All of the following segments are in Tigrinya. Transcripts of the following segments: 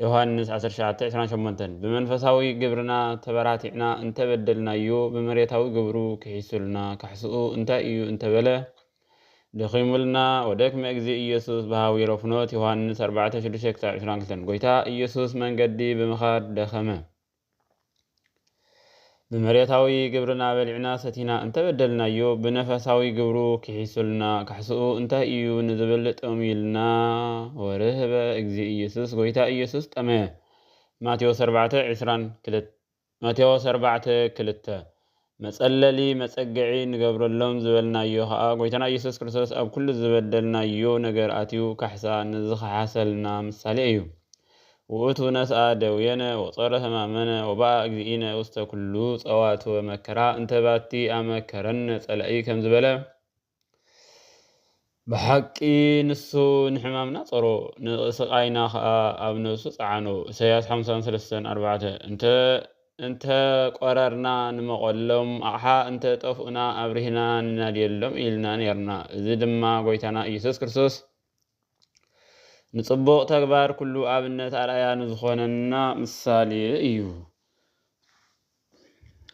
ዮሃንስ ዓሰርተ ትሽዓተ ዕስራን ሸሞንተን ብመንፈሳዊ ግብርና ተበራቲዕና እንተ በደልናዮ ብመሬታዊ ግብሩ ክሒሱልና ካሕስኡ እንታይ እዩ እንተ በለ ደኺሙልና ወደክመ እግዚእ ኢየሱስ በሃዊሮ ፍኖት ዮሃንስ ኣርባዕተ ሽዱሽተ ክሳብ ዕስራን ክልተን ጎይታ ኢየሱስ መንገዲ ብምኻድ ደኸመ ብመሬታዊ ግብርና በሊዕና ሰቲና እንተበደልናዮ ብነፈሳዊ ግብሩ ክሒሱልና ካሕስኡ እንታይ እዩ ንዝብል ጠምዩልና ወርህበ እግዚ ኢየሱስ ጎይታ ኢየሱስ ጠመ ማቴዎስ 4 22 ማቴዎስ 4 ክልተ መጸለሊ፣ መጸግዒ፣ ንገብረሎም ዝበልናዮ ከኣ ጎይታና ኢየሱስ ክርስቶስ ኣብ ኩሉ ዝበደልናዮ ነገር ኣትዩ ካሕሳ ንዝኸሓሰልና ምሳሌ እዩ። ውእቱ ነስኣ ደዌነ ወጾረ ሕማመነ ወበኣ እግዚእነ ውስተ ኩሉ ጸዋትወ መከራ እንተ ባቲ ኣመከረነ ጸላኢ ከም ዝበለ፣ ብሓቂ ንሱ ንሕማምና ጸሮ፣ ንስቓይና ከኣ ኣብ ነብሱ ጸዓኖ፣ ኢሳይያስ ሓምሳን ሰለስተን ኣርባዕተ፣ እንተ እንተ ቆረርና ንመቐሎም ኣቕሓ፣ እንተ ጠፍኡና ኣብሪህና ንናድየሎም ኢልና ኔርና፣ እዚ ድማ ጎይታና ኢየሱስ ክርስቶስ ንጽቡቕ ተግባር ኩሉ ኣብነት ኣርኣያ ንዝኾነና ምሳሌ እዩ።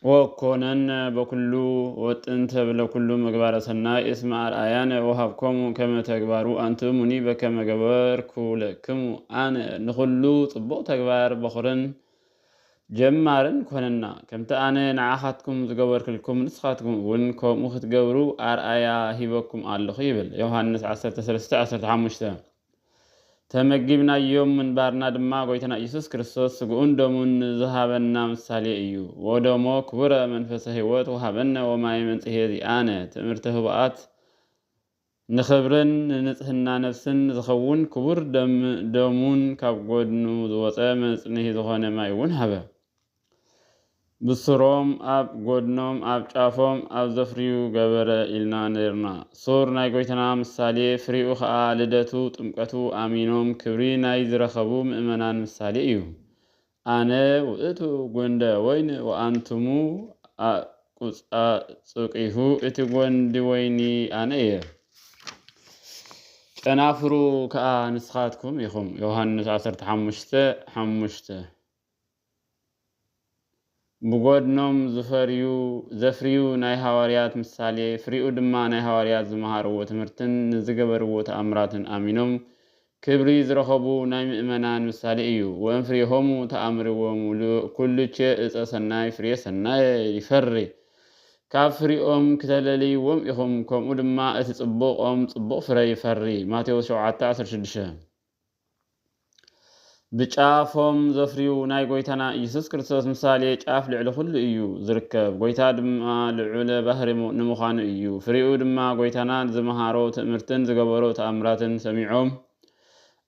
ወኮነነ በኩሉ ወጥንተ ብለኩሉ ምግባረ ሰናይ እስመ ኣርኣያነ ወሃብኮሙ ከመ ተግባሩ ኣንትሙኒ በከመ ገበርኩ ለክሙ ኣነ ንኩሉ ጽቡቕ ተግባር በኹርን ጀማርን ኮነና ከምቲ ኣነ ንዓኻትኩም ዝገበርክልኩም ንስኻትኩም እውን ከምኡ ክትገብሩ ኣርኣያ ሂበኩም ኣለኹ ይብል ዮሃንስ ዓሰርተ ሰለስተ ዓሰርተ ሓሙሽተ ተመጊብናዮም ምንባርና ድማ ጎይታና እየሱስ ክርስቶስ ስግኡን ደሙን ንዝሃበና ምሳሌ እዩ። ወደሞ ክቡረ መንፈሰ ሕይወት ወሃበነ ወማየ መንጽሔ ዚኣነ ትእምርተ ህቡኣት ንኽብርን ንንጽሕና ነፍስን ዝኸውን ክቡር ደሙን ካብ ጎድኑ ዝወጸ መጽንሒ ዝኾነ ማይ እውን ሃበ። ብሱሮም ኣብ ጎድኖም ኣብ ጫፎም ኣብ ዘፍርዩ ገበረ ኢልና ነርና ሱር ናይ ጎይታና ምሳሌ ፍሬኡ ከኣ ልደቱ ጥምቀቱ ኣሚኖም ክብሪ ናይ ዝረከቡ ምእመናን ምሳሌ እዩ ኣነ ውእቱ ጎንደ ወይን ወኣንቱሙ ኣቁጻጹቂሁ እቲ ጎንዲ ወይኒ ኣነ እየ ጨናፍሩ ከኣ ንስካትኩም ኢኩም ዮሃንስ ዓሰርተ ሓሙሽተ ሓሙሽተ። ብጐድኖም ዝፈርዩ ዘፍርዩ ናይ ሃዋርያት ምሳሌ ፍሪኡ ድማ ናይ ሃዋርያት ዝመሃርዎ ትምህርትን ንዝገበርዎ ተኣምራትን ኣሚኖም ክብሪ ዝረኸቡ ናይ ምእመናን ምሳሌ እዩ ወእምፍሬሆሙ ተኣምርዎሙ ኵሉቼ ዕፀ ሠናይ ፍሬ ሠናየ ይፈሪ ካብ ፍሪኦም ክተለልይዎም ኢኹም ከምኡ ድማ እቲ ጽቡቕ ኦም ጽቡቕ ፍረ ይፈሪ ማቴዎስ ሸውዓተ ዓሰርተ ሽዱሽተ ብጫ ፎም ዘፍርዩ ናይ ጎይታና ኢየሱስ ክርስቶስ ምሳሌ ጫፍ ልዕሊ ኩሉ እዩ ዝርከብ ጎይታ ድማ ልዑለ ባህሪ ንምዃኑ እዩ ፍሪኡ ድማ ጎይታና ዝመሃሮ ትእምርትን ዝገበሮ ተኣምራትን ሰሚዖም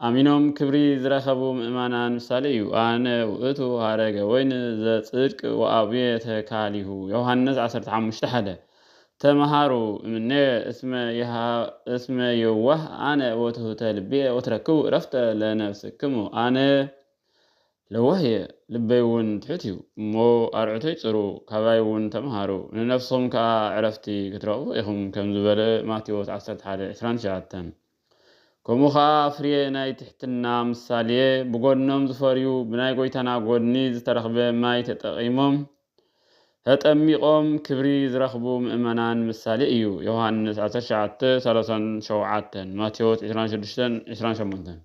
ኣሚኖም ክብሪ ዝረከቡ ምእማናን ምሳሌ እዩ ኣነ ውእቱ ሃረገ ወይን ዘጽድቅ ወኣብየ ተካሊሁ ዮሐንስ ዓሰርተ ሓሙሽተ ሓደ ተመሃሩ እምኔ እስመ ይሃ እስመ የዋህ ኣነ ወትሑተ ልቤ ወትረክቡ ዕረፍተ ለነፍስክሙ ኣነ ለዋህ እየ ልበይውን ትሑት እዩ እሞ ኣርዑተይ ጽሩ ካባይውን ተመሃሩ ንነፍስኹም ከኣ ዕረፍቲ ክትረኽቡ ኢኹም ከም ዝበለ ማቴዎስ ዓሰርተ ሓደ ዕስራን ትሽዓተን ከምኡ ከኣ ኣፍርየ ናይ ትሕትና ምሳልየ ብጎድኖም ዝፈርዩ ብናይ ጎይታና ጎድኒ ዝተረኽበ ማይ ተጠቂሞም ተጠሚቆም ክብሪ ዝረኽቡ ምእመናን ምሳሌ እዩ ዮሐንስ ዓሰርተ ትሽዓተ ሰላሳን ሸውዓተን ማቴዎስ ዕስራን ሽዱሽተን ዕስራን ሸሞንተን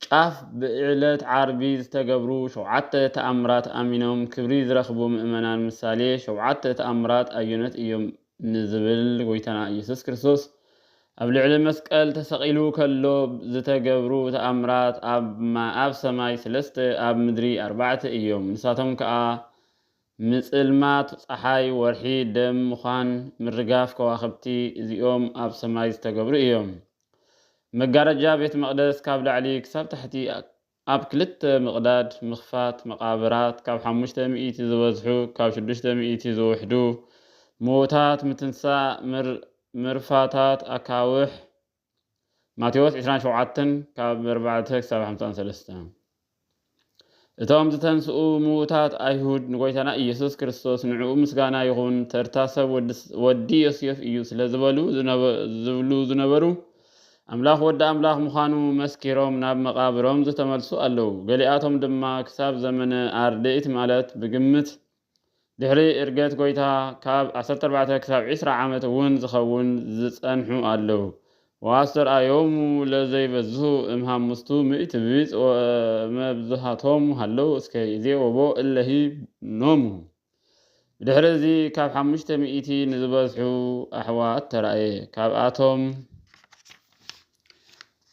ጫፍ ብዕለት ዓርቢ ዝተገብሩ ሸውዓተ ተኣምራት ኣሚኖም ክብሪ ዝረኽቡ ምእመናን ምሳሌ ሸውዓተ ተኣምራት ኣየኖት እዮም ንዝብል ጎይታና ኢየሱስ ክርስቶስ ኣብ ልዕሊ መስቀል ተሰቒሉ ከሎ ዝተገብሩ ተኣምራት ኣብ ሰማይ ስለስተ ኣብ ምድሪ ኣርባዕተ እዮም ንሳቶም ከኣ ምጽልማት ጸሓይ ወርሒ ደም ምዃን ምርጋፍ ከዋኽብቲ እዚኦም ኣብ ሰማይ ዝተገብሩ እዮም መጋረጃ ቤት መቕደስ ካብ ላዕሊ ክሳብ ታሕቲ ኣብ ክልተ ምቕዳድ ምኽፋት፣ መቓብራት ካብ ሓሙሽተ ሚእቲ ዝበዝሑ ካብ ሽዱሽተ ሚእቲ ዝውሕዱ፣ ምዉታት ምትንሳእ፣ ምርፋታት ኣካውሕ፣ ማቴዎስ ዕስራን ሸውዓተን ካብ ኣርባዕተ ክሳብ ሓምሳን ሰለስተ። እቶም ዝተንስኡ ምዉታት ኣይሁድ ንጎይታና ኢየሱስ ክርስቶስ ንዕኡ ምስጋና ይኹን ተርታ ሰብ ወዲ ዮሴፍ እዩ ስለ ዝበሉ ዝብሉ ዝነበሩ ኣምላኽ ወዲ ኣምላኽ ምዃኑ መስኪሮም ናብ መቓብሮም ዝተመልሱ ኣለዉ። ገሊኣቶም ድማ ክሳብ ዘመነ ኣርድእት ማለት ብግምት ድሕሪ እርገት ጎይታ ካብ ዓሰርተ ኣርባዕተ ክሳብ ዕስራ ዓመት እውን ዝኸውን ዝጸንሑ ኣለው። ወኣስተርኣዮሙ ለዘይበዝሁ እም ሐሙስቱ ምእቲ ብጽ ወመብዝሃቶሙ ሀለው እስከ ይዜ ወቦ እለ ኖሙ። ብድሕሪ እዚ ካብ ሓሙሽተ ምእቲ ንዝበዝሑ ኣሕዋት ተራእየ። ካብኣቶም።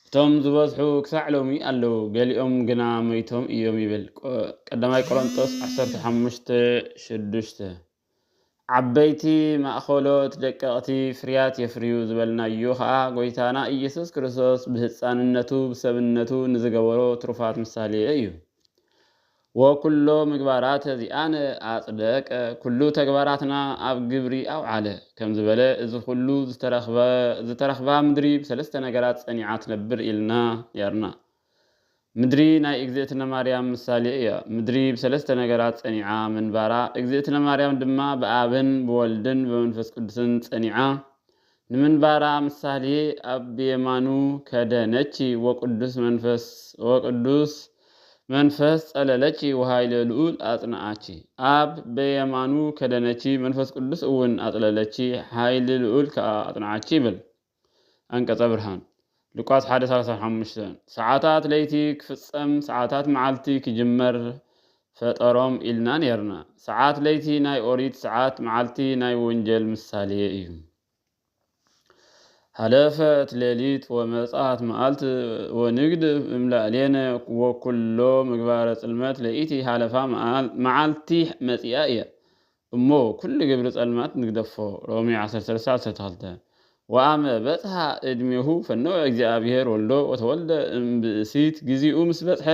እቶም ዝበዝሑ ክሳዕ ሎሚ ኣለዉ፣ ገሊኦም ግና መይቶም እዮም ይብል ቀዳማይ ቆሮንጦስ ዓሰርተ ሓሙሽተ ሽዱሽተ። ዓበይቲ ማእኸሎት ደቀቕቲ ፍርያት የፍርዩ ዝበልናዮ ኸኣ ጐይታና ኢየሱስ ክርስቶስ ብህጻንነቱ ብሰብነቱ ንዝገበሮ ትሩፋት ምሳሌ እዩ። ወኵሎ ምግባራት ዚኣነ ኣጽደቀ፣ ኵሉ ተግባራትና ኣብ ግብሪ ኣውዓለ ከም ዝበለ፣ እዚ ዅሉ ዝተረኽባ ምድሪ ብሰለስተ ነገራት ጸኒዓ ትነብር ኢልና ነይርና። ምድሪ ናይ እግዝእትነ ማርያም ምሳሌ እያ። ምድሪ ብሰለስተ ነገራት ጸኒዓ ምንባራ፣ እግዝእትነ ማርያም ድማ ብኣብን ብወልድን ብመንፈስ ቅዱስን ጸኒዓ ንምንባራ ምሳሌ ኣብ ብየማኑ ከደ ነቺ ወቅዱስ መንፈስ ወቅዱስ መንፈስ ጸለለቺ ወኃይለ ልዑል ኣጽንዓቺ። ኣብ በየማኑ ከደ ነቺ መንፈስ ቅዱስ እውን ኣጽለለቺ ኃይሊ ልዑል ከኣ ኣጽንዓቺ ይብል። ኣንቀጸ ብርሃን ሉቃስ ሓደ ሰላሳ ሓሙሽተ፣ ሰዓታት ለይቲ ክፍጸም ሰዓታት መዓልቲ ክጅመር ፈጠሮም ኢልና ኔርና። ሰዓት ለይቲ ናይ ኦሪት ሰዓት መዓልቲ ናይ ወንጀል ምሳሌ እዩ። ሀለፈት ሌሊት ወመጽኣት መዓልት ወንግድፍ እምላእሌነ ወኩሎ ምግባረ ጽልመት ለይቲ ሀለፋ መዓልቲ መጺኣ እያ። እሞ ኩሉ ግብሪ ጸልማት ንግደፎ ሮሜ ዓሰርተ ሰለስተ ዓሰርተ ክልተ። ወአመ በጽሐ እድሜሁ ፈነወ እግዚአብሔር ወልዶ ወተወልደ እምብእሲት ጊዜኡ ምስ በጽሐ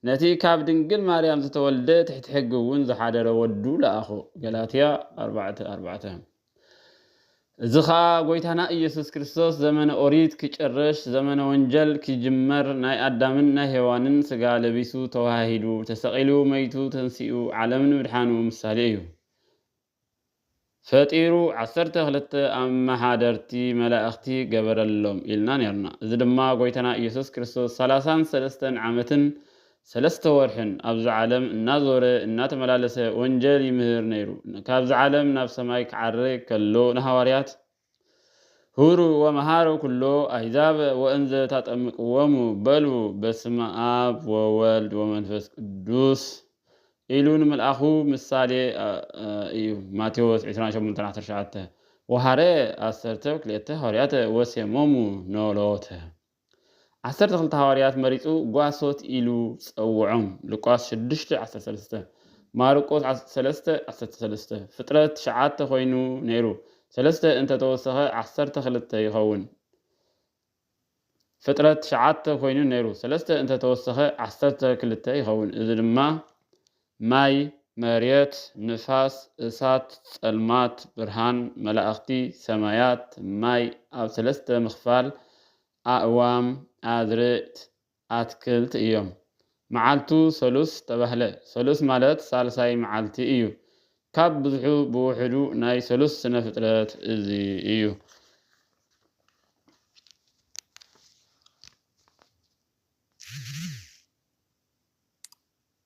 ነቲ ካብ ድንግል ማርያም ዝተወልደ ትሕቲ ሕጊ እውን ዝሓደረ ወዱ ለኣኾ ገላትያ ኣርባዕተ ኣርባዕተ። እዚ ኸኣ ጎይታና ኢየሱስ ክርስቶስ ዘመነ ኦሪት ኪጭርሽ ዘመነ ወንጀል ኪጅመር ናይ ኣዳምን ናይ ሄዋንን ሥጋ ለቢሱ ተወሃሂዱ ተሰቒሉ መይቱ ተንሲኡ ዓለም ንምድሓኑ ምሳሌ እዩ ፈጢሩ ዓሰርተ ክልተ ኣመሓደርቲ መላእኽቲ ገበረሎም ኢልና ኔርና እዚ ድማ ጎይታና ኢየሱስ ክርስቶስ ሠላሳን ሠለስተን ዓመትን ሰለስተ ወርሕን ኣብዚ ዓለም እናዞረ እናተመላለሰ ወንጀል ይምህር ነይሩ። ካብዚ ዓለም ናብ ሰማይ ክዓርግ ከሎ ንሃዋርያት ሁሩ ወመሃሩ ኩሎ ኣሕዛብ ወእንዘ ታጠምቅዎሙ በሉ በስመ ኣብ ወወልድ ወመንፈስ ቅዱስ ኢሉ ንምልኣኹ ምሳሌ እዩ ማቴዎስ ዕስራን ሸሞንተን ዓሰርተ ሸውዓተ ወሃረ ኣሰርተ ክልኤተ ሃዋርያተ ወሴሞሙ ኖሎተ ዓሰርተ ክልተ ሃዋርያት መሪጹ ጓሶት ኢሉ ጸውዖም፣ ሉቃስ ሽዱሽተ ዓሰርተ ሰለስተ፣ ማርቆስ ዓሰርተ ሰለስተ ዓሰርተ ሰለስተ፣ ፍጥረት ትሽዓተ ኮይኑ ነይሩ፣ ሰለስተ እንተ ተወሰኸ ዓሰርተ ክልተ ይኸውን። ፍጥረት ትሽዓተ ኮይኑ ነይሩ፣ ሰለስተ እንተ ተወሰኸ ዓሰርተ ክልተ ይኸውን። እዚ ድማ ማይ፣ መሬት፣ ንፋስ፣ እሳት፣ ጸልማት፣ ብርሃን፣ መላእኽቲ፣ ሰማያት፣ ማይ ኣብ ሰለስተ ምኽፋል፣ ኣእዋም፣ ኣዝርእት፣ ኣትክልት እዮም። መዓልቱ ሰሉስ ተባህለ። ሰሉስ ማለት ሳልሳይ መዓልቲ እዩ። ካብ ብዝሑ ብውሑዱ ናይ ሰሉስ ስነ ፍጥረት እዚ እዩ።